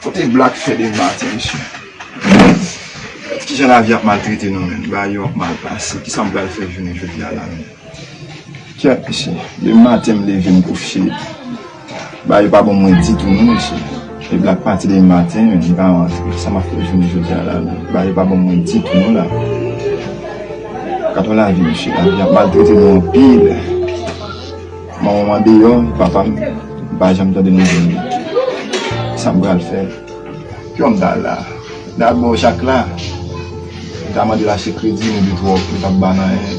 Kote black fè de ma ti mesye. Ki jan la vi ap maltrete nou men. Ba yo ap mal pase. Ki sa m pral fè jounen jodi a la men. Kèt mesye. Depi maten m leve m kouche. Bagay yo pa bon mwen ditou non mesye Epi lap pati demen maten men li pa rantre sa map fè jounen jodi a la menm bagay yo pa bon mwen ditou non la Gad yon lavi mesye lavi ap maltrete nou anpil Manmanm andeyò papam pa janm tande nouvèl li Sam pral fè Kijan m ta al la Dabò jak la m ta mandel achte kredi men li twòp li pap banm anyen.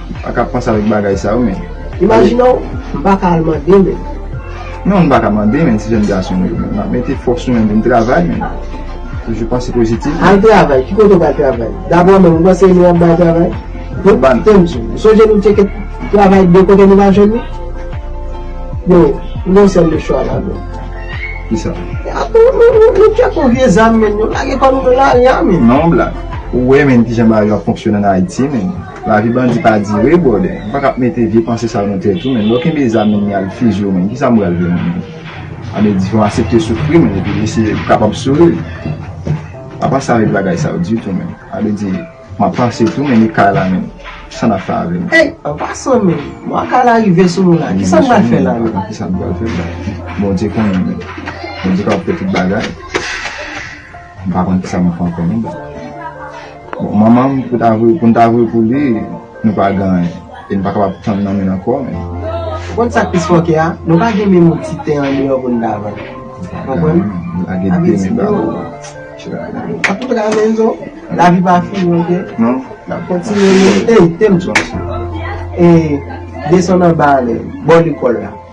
M pa ka panse avèk bagay sa yo men. Imajine w, m pa ka al mande men. Non m pa ka mande men ti jèn gason m yo men. M ap mete fòs sou menm pou m travay men. Toujou panse pozitif. Al travay, ki kote w pral travay? Dabò menm, ou panse e nou y ap bay travay? Bon, tande m di w, ou sonje nou tcheke travay de kote nou pa jwenn li? Bon, nou gen yon sèl de chwa la don. Kisa? E ap nou, nou, nou, nou tcheke yon vye zam men, nou lage kò nou nan lari a men. Non blan, ou wè men ki jan bagay yo ap fonksyone an Ayiti men. Lavi bandi pa dire brother. Nou paka ap mete vye panse sa nan tèt ou menn. Lè w kenbe zam menn y al fiziye w menn kisa m pral fè menn. Sa vle di fò w asepte soufri menn epi eseye pou kapab souri. Pa panse avèk bagay sa yo ditou menn. Sa vle di m ap panse tou menn e kay la menn kisa n ap fè avè l menn. Ey an pasan menn mwa kay la rive sou nou la kisa n pral fè la menn. Kisa n pral fè la. Bondye konnen menn. Bondye kapab fè tout bagay. M pa konn kisa m pran pou li. Bon, manman m, pou n ta vre pou li, nou pa gen anyen. E n pa kapab tann nan men l ankò. Ou konn sa k plis fòkè a? Nou pa gen menm yon ti ten andeyò pou n ta vann. Ou konprann? Sa vle di yo. N ap montre anyen zo. Lavi pa fini oke. Non. N ap kontinye. Ey, te m tchouch. E, desann anba ale. Bò lekòl la.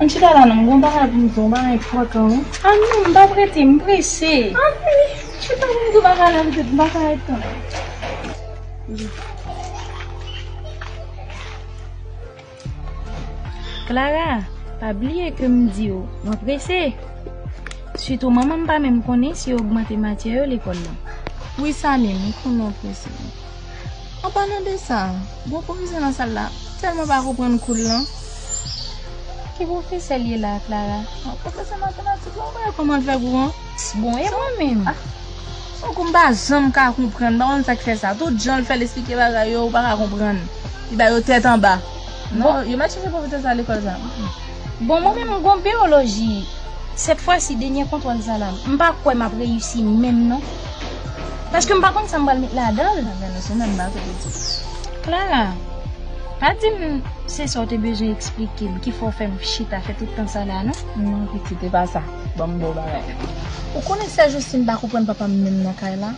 An chita la non, m gon bagay pou m di w, yon bagay enpòtan wi. A non, m pa p rete, m prese. A wi, chita pou m di w bagay la pitit, m pa ka ret tann ou. Klara, pa bliye ke m di w, mwen prese. Sitou manman m pa menm konnen si yo ogmante matyè yo lekòl lan. Wi Samy, m konnen w prese. An palan de sa, gwo pwofesè nan sal la tèlman pa konprann kou l lan. Ki pwofesè l ye la a, Klara? Pwofesè matematik la, ou pa wè kòman l fè kou an? Bon, e mwen menm? Son kou m pa janm ka konprann, m pa konn sa k fè sa. Tout jan l fè l esplike bagay yo, ou pa ka konprann. Li ba yo tèt anba. Non, yo pa t chèche pwofesè sa a lekòl sa a. Bon mwen menm m gon beoloji sèt fwa si denyè kontwòl sa la m pa kwè map reyisi menm non paske m pa konn sa m pral met ladanl Clara pa dim se sa w te bezwen eksplike m ki fè w fè m chita fè tout tan sa la non non pitit e pa sa banm bon bagay ou konnen sè Justine pa konprann papa m menm nan kay la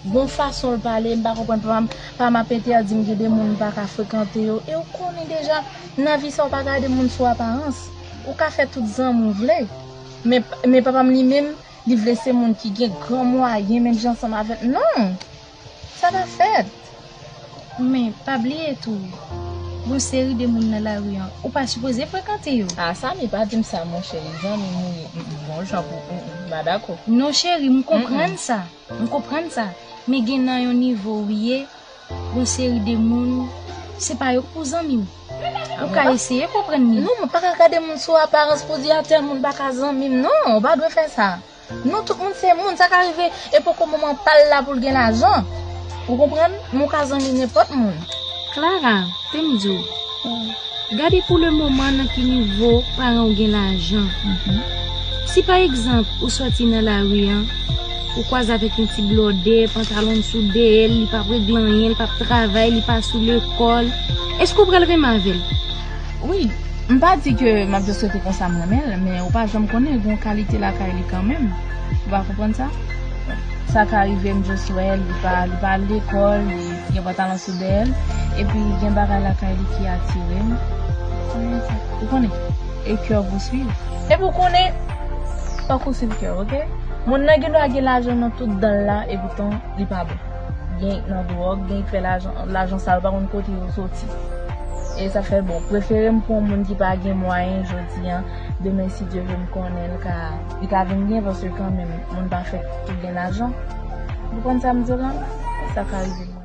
gon fason l pale m pa konprann papa m ap entèdi m gen de moun m paka frekante yo e ou konnen deja. Nan vi sa ou pa gade moun sou aparans, ou ka fè tout zanmi ou vle, men papa m li menm li vle se moun ki gen gran mwayen menm jan ansanm avè m non! Sa pa fèt! Men pa bliye tou, gon seri de moun nan lari an ou pa sipoze frekante yo. Ah Samy pa dim sa mon chéri zanmi m wi m m bon jan pou ou m pa dakò. Non chéri m konprann sa. M konprann sa, men gen nan yon nivo ou ye, yon seri de moun, se pa yo k pou zanmi w. Ou ka eseye konprann li. Non, mwen pa ka gade moun sou aparans pou di a tèl moun pa ka zanmi m. Non, ou pa dwe fè sa. Non, tout moun se moun, sa ka rive e poko moman pa l la pou l gen lajan. Ou konprann? Men w ka zanmi nenpòt moun. Clara, te m di w, gade pou le moman nan ki nivo paran w gen lajan. Si pa egzanp ou sòti nan lari an, ou kwaze avèk yon ti blòdè, pantalon l sou dèyè l, li pa p regle anyen, li pa p travay, li pa sou lekòl, èske w pral renmen avè l? Wi. M pa di ke m ap jis rete konsa m renmen l, men ou pa janm konnen, gen yon kalite lakay li kanmenm. Ou pa konprann sa? Sa ka rive m just wè l li pa li pa al lekòl li gen pantalon sou dèyè l epi gen bagay lakay li ki atire m ou konnen e kè w pou swiv epi w konnen fòk ou swiv kè w ok moun nan gen dwa gen lajan nan tout dan l la e poutan li pa bon gen y nan dwòg gen y k fè lajan lajan sa yo pa konn kote yo soti e sa fè bon prefere m pran w moun ki pa gen mwayen jodi an demen si Dye vle m konnen l ka. Li ka vin byen paske kanmenm moun pa fèt pou gen lajan. Ou konprann sa m di w la? Se sa k ka rive mwen.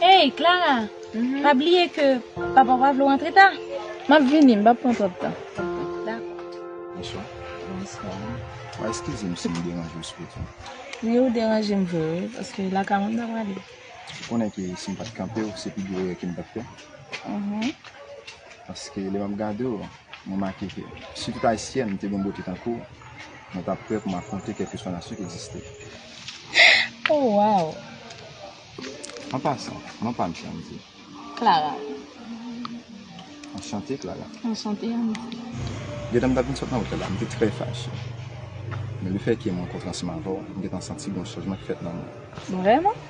Hey Clara pa bliye ke papa w pa vle w antre ta. M ap vini, m pap pran twòp tan. Bonswa. Bonswa. Wa eskize m si m deranje w sou wout lan. Wi ou deranje m vre wi paske lakay mwen m ta prale. Ou konnen ke si m pat kanpe w se pi gwo erè ke m t ap fè. Paske lè m ap gade w, m remake ke si tout ayisyèn te gen bote tankou w, mwen t ap prè pou m afwonte kèlkeswa nasyon ki egziste. Oh waw. An pasan, non pa m Shandy. Clara. Anchante Clara. Anchante Annie. Gen tan m t ap vin sot nan wout la la, m te trè fache. Men lefètke m rankontre ansanm avè w, m gen tan santi gen yon chanjman ki fèt nan mwen. Vrèman?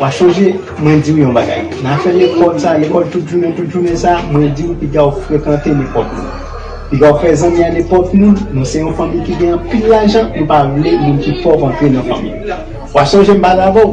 Wap sonje mwen diw yon bagay nan afè lekòl sa, lekòl tout jounen tout jounen sa, mwen diw piga ou frekante nenpòt moun, piga ou fè zanmi a nenpòt moun, nou se yon fanmi ki gen anpil lajan nou pa vle moun ki pòv antre nan fanmi nou. Wap sonje m pale avèw?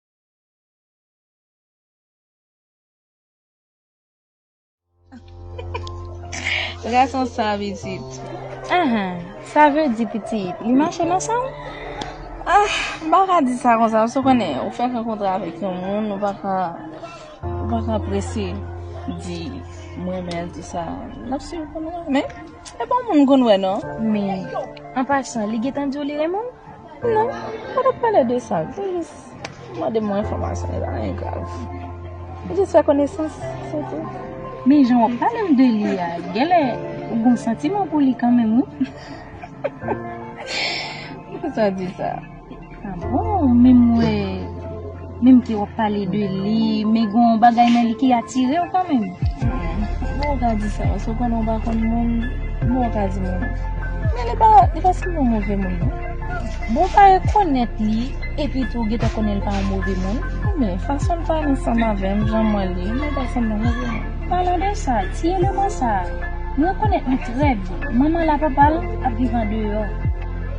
Ras an sa pitit. Ahan, sa vle di pitit, li mache nan san ou? Ah, m pa ka di sa konsa paske ou konnen, ou fèk rankontre avèk yon moun, ou pa ka, ou pa ka prese di m renmen l tou sa. N ap swiv pou nou wè. Men, e pa w moun m konn wè non. Men, an pasan, li gentan di w li renmen w? Non, mwen pa tap pale de sa. Mwen te jis mande mwen enfòmasyon, e pa anyen grav. Mwen jis fè konesans, se tou. Men jan wap pale m de li a, genlè ou gon santiman pou li kanmenm wi. Poukisa w di sa? Ah bon, menm mwen. Menm ke wap pale de li men gen yon bagay nan li ki atirew kanmenm. Kouman ou ka di sa la, sepandan ou pa konn moun, kouman ou ka di moun an? Men li pa, li pa sanble yon move moun non. Bon ou pa rekonèt li, epi tou ou gentan konnen li pa yon move moun? Men, fason l pale ansanm avèm, jan m wè l li, li pa sanble yon move moun. Palan de sa, ti eleman sa a, m rekonèt li trè byen, manman l a papa l ap viv andeyò.